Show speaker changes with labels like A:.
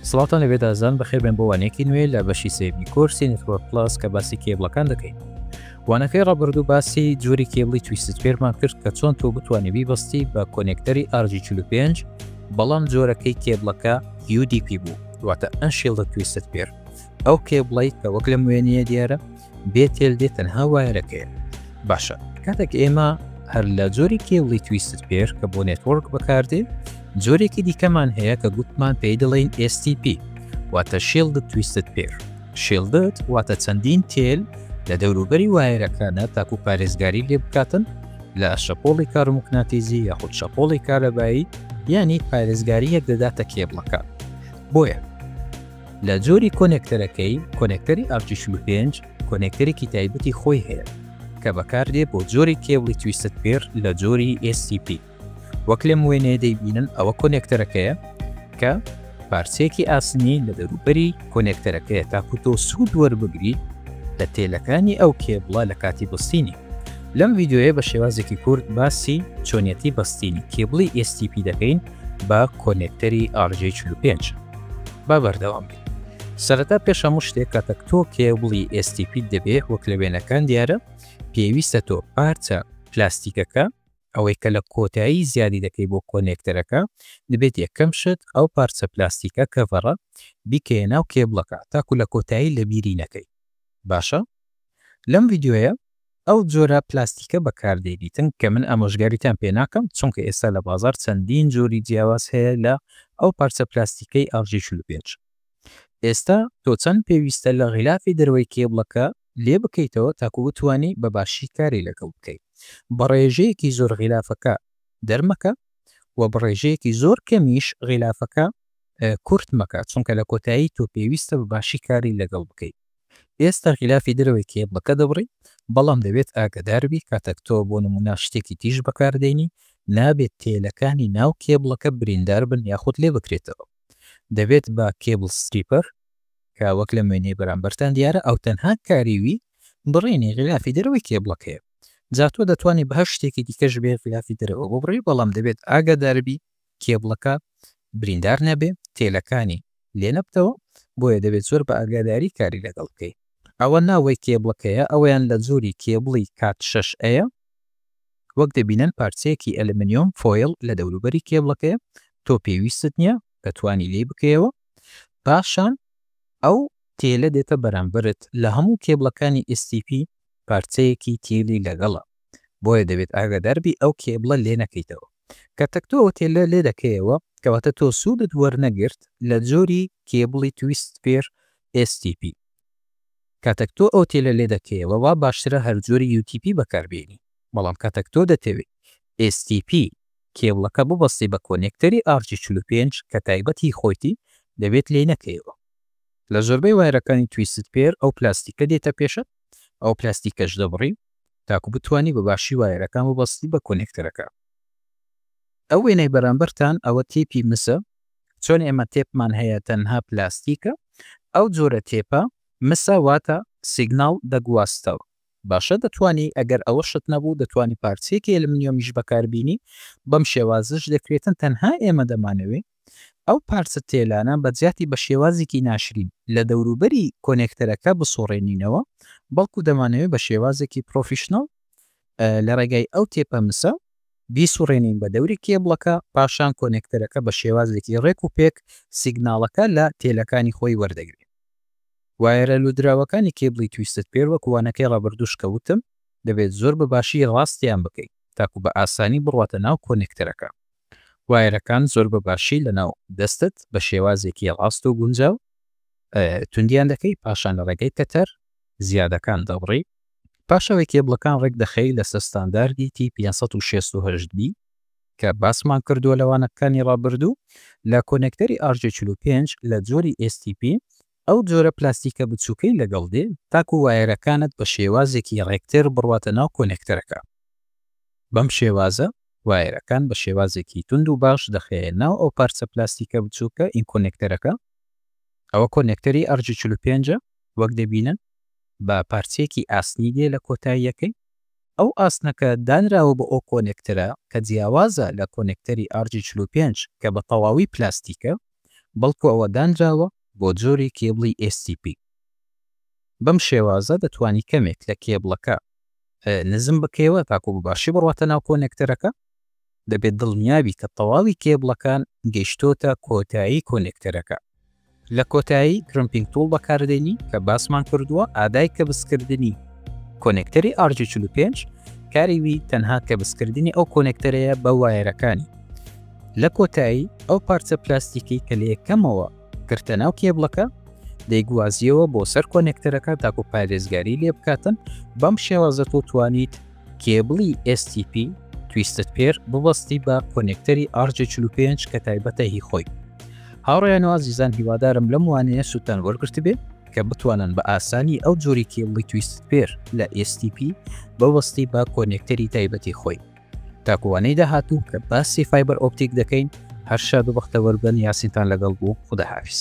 A: سڵاوتان لەبێت ئازان بەخێر بێن بۆ وانەیەکی نوێ لە بەشی سێمی کۆرسی نتوە پلاس کە باسی کێبڵەکان دەکەین وانەکەی ڕابردوو باسی جۆری کێبڵی تویست فێرمان کرد کە چۆن تۆ بتوانێت بیبستی بە کۆنێکتەری ئارجی 45 بەڵام جۆرەکەی کێبڵەکە UDP بوو دواتە ئەنشیڵ لە تویست پێر ئەو کێبڵی کە وەک لە موێنیە دیارە بێ تێل دێ تەنها وایەرەکەیە باشە کاتێک ئێمە هەر لە جۆری کێبڵی تویستت پێر کە بۆ نێتۆرک بەکاردێ جۆرێکی دیکەمان هەیە کە گوتمان پێی دەڵێن STP واتە شێڵدە تویستت پێر شێڵدت واتە چەندین تێل لە دەوروبەری وایەرەکانە تاکو پارێزگاری لێ بکاتن لە شەپۆڵی کارموکناتیزی یاخود شەپۆڵی کارەبایی یانی پارێزگاریەک دەداتە کێبڵەکە بۆیە لە جۆری کۆنێکتەرەکەی، کۆنێکتەری ئارکی چل و پێنج کۆنێکتەرێکی تایبەتی خۆی هەیە کە بەکاردێ بۆ جۆری کێبڵی تویستد پێر لە جۆری STP وەک لەم وێنەیە دەیبینن ئەوە کۆنێکتەرەکەیە کە پارچەیەکی ئاسنی لە دەروبەری کۆنێکتەرەکەیە تاکو تۆ سوود وەربگری لە تێلەکانی ئەو کێبڵە لە کاتی بستینی لەم ڤیددیوەیە بە شێوازێکی کورد باسی چۆنیەتی بەستینی کێبڵی STP دەکەین بە کۆنێکتەری ئار جەی چل و پێنج. با بەردەوام بین. سەرەتا پێش هەموو شتێک کاتەک تۆ کێبڵی ئێستیپیت دەبێ وەک لە وێنەکان دیارە پێویستە تۆ پارچە پلاستیکەکە ئەوەی کە لە کۆتایی زیادی دەکەی بۆ کۆنێکتەرەکە دەبێت یەکەم شت ئەو پارچە پلاستیکە کەڤەڕە بیکەیە ناو کێبڵەکە تاکو لە کۆتایی لەبیری نەکەی باشە لەم ڤیدیۆیە ئەو جۆرە پلاستیکە بەکاردێنیتن کە من ئامۆژگاریتان پێ ناکەم چونکە ئێستا لە بازاڕ چەندین جۆری جیاواز هەیە لە ئەو پارچە پلاستیکەی ئاژی چل و پێنج ئێستا تۆ چەند پێویستە لە غیلافی دەرەوەی کێبڵەکە لێ بکەیتەوە تاکو بتوانی بە باشی کاری لەگەڵ بکەی بە ڕێژەیەکی زۆر غیلافەکە دەرمەکە وە بە ڕێژەیەکی زۆر کەمیش غیلافەکە کورت مەکە چونکە لە کۆتایی تۆ پێویستە بە باشی کاری لەگەڵ بکەی. ئێستا غیلافی دەرەوەی کێبڵەکە دەبڕی، بەڵام دەبێت ئاگەداربی کاتەک تۆ بۆ نموونە شتێکی تیژ بەکاردێنی، نابێت تێلەکانی ناو کێبڵەکە برینداربن یاخود لێبکرێتەوە. دەبێت بە کێبڵ ستریپەر، کە وەک لەم وێنەی بەرامبەرتان دیارە ئەو تەنها کاری وی بڕینی غیلافی دەرەوەی کێبڵەکەیە. جا تۆ دەتوانی بەهەر شتێکی دیکەش بێ غیلافی دەرەوە ببڕی، بەڵام دەبێت ئاگاداربی کێبڵەکە بریندار نەبێ تێلەکانی لێ نەبتەوە بۆیە دەبێت زۆر بە ئاگاداری کاری لەگەڵ بکەی. ئەوە ناوەی کێبڵەکەیە ئەوەیان لە جۆری کێبڵی کات شەش ەیە وەک دەبینن پارچەیەکی ئەلمنیۆم فۆیل لە دەوروبەری کێبڵەکەیە تۆ پێویستت نیە کە توانی لێی بکەیەوە پاشان ئەو تێلە دێتە بەرامبەرت لە هەموو کێبڵەکانی STP پارچەیەکی تێلی لەگەڵە. بۆیە دەبێت ئاگادار بی ئەو کێبڵە لێ نەکەیتەوە کە تەکتۆ تێلە لێ دەکەیەوە کەواتە تۆ سوودت وەرنەگرت لە جۆری کێبڵی تویست پێر STP کاتەک تۆ ئەو تێلە لێ دەکەیەوە وا باشترە هەر جۆری UTP بەکاربێنی بەڵام کاتەک تۆ دەتەوێت STP کێبڵەکە ببەستی بە کۆنێکتەری ئارجی 45 کە تایبەت هی خۆیتی دەبێت لێی نەکەیەوە لە زۆربەی وایرەکانی تویست پێر ئەو پلاستیکە دێتە پێشت ئەو پلاستیکەش دەبڕی تاکو بتوانی بە باشی وایەرەکان ببەستی بە کۆنێکتەرەکە ئەو وێنەی بەرامبەرتان ئەوە تێپی مسە چۆن ئێمە تێپمان هەیە تەنها پلاستیکە ئەو جۆرە تێپە مسە واتە سیگناڵ دەگواستەوە باشە دەتوانی ئەگەر ئەوە شت نەبوو دەتوانی پارچەیەکی ئەلمنیۆمیش بەکاربینی بەم شێوازش دەکرێتن تەنها ئێمە دەمانەوێ ئەو پارچە تێلانە بە جیاتی بە شێوازێکی ناشرین لە دەوروبەری کۆنێکتەرەکە بسوڕێنینەوە، بەڵکو دەمانەوێت بە شێوازێکی پرۆفیشناڵ لە ڕێگای ئەو تێپە مسە بیسوڕێنین بە دەوری کێبڵەکە، پاشان کۆنێکتەرەکە بە شێوازێکی ڕێک و پێک سیگناڵەکە لە تێلەکانی خۆی وەردەگرێت. وایەرە لووتراوەکانی کێبڵی تویستد پێر وەک وانەکەی ڕابردووش کە وتم دەبێت زۆر بە باشی ڕاستیان بکەیت تاکو بە ئاسانی بڕواتە ناو کۆنێکتەرەکە. وایەرەکان زۆر بە باشی لەناو دەستت بە شێوازێکی ڕاست و گونجاو توندیان دەکەی، پاشان لە ڕێگەی کەتەر زیادەکان دەبڕی، پاش ئەوەی کێبڵەکان ڕێک دەخەی لەسەر ستانداردی تی پێنج سەد و شەست و هەشت بی کە باسمان کردووە لە وانەکانی ڕابردوو، لە کۆنێکتەری ئار جێ چل و پێنج لە جۆری ئێس تی پی ئەو جۆرە پلاستیکە بچووکەی لەگەڵ دێ تاکوو وایەرەکانت بە شێوازێکی ڕێکتر بڕواتە ناو کۆنێکتەرەکە. بەم شێوازە وایەرەکان بە شێوازێکی توند و باش دەخەیە ناو ئەو پارچە پلاستیکە بچووکە ی کۆنێکتەرەکە. ئەوە کۆنێکتەری ئەرجی چل و پێنج ە وەک دەبینن بە پارچەیەکی ئاسنی دێ لە کۆتاییەکەی. ئەو ئاسنەکە دانراوە بۆ ئەو کۆنێکتەرە کە جیاوازە لە کۆنێکتەری ئەرجی چل و پێنج کە بە تەواوی پلاستیکە بەڵکوو ئەوە دانراوە بۆ جۆری کێبڵی STP. بەم شێوازە دەتوانی کەمێک لە کێبڵەکە نزم بکەیەوە تاکو بە باشی بڕواتە ناو کۆنێکتەرەکە، دەبێت دڵنیابی کە تەواوی کێبڵەکان گەیشتۆتە کۆتایی کۆنێکتەرەکە. لە کۆتایی Crimping Tool بەکاردێنی کە باسمان کردووە، ئادای کەبسکردنی کۆنێکتەری RJ45 کاری وی تەنها کەبسکردنی ئەو کۆنێکتەرەیە بە وایەرەکانی، لە کۆتایی ئەو پارچە پلاستیکەی کە لە یەکەمەوە گرتە ناو کێبڵەکە دەیگوازیەوە بۆ سەر کۆنێکتەرەکە تاکو پارێزگاری لێ بکاتن بەم شێوازە تۆ توانیت کێبڵی STP تویستت پێر ببەستی بە کۆنێکتەری RG45 کە تایبەتە هی خۆی هاوڕیان و ئازیزان هیوادارم لەم وانەیە سووتان وەرگرت بێ کە بتوانن بە ئاسانی ئەو جۆری کێڵی تویست پێر لە ئێستیپی بەوەستی بە کۆنێکتەری تایبەتی خۆی تاکوانەی داهاتوو کە باسی فایبەر ئۆپتیک دەکەین هەر شاد و بەختەوەر بن یاسینتان لەگەڵ بوو خوداحافیز.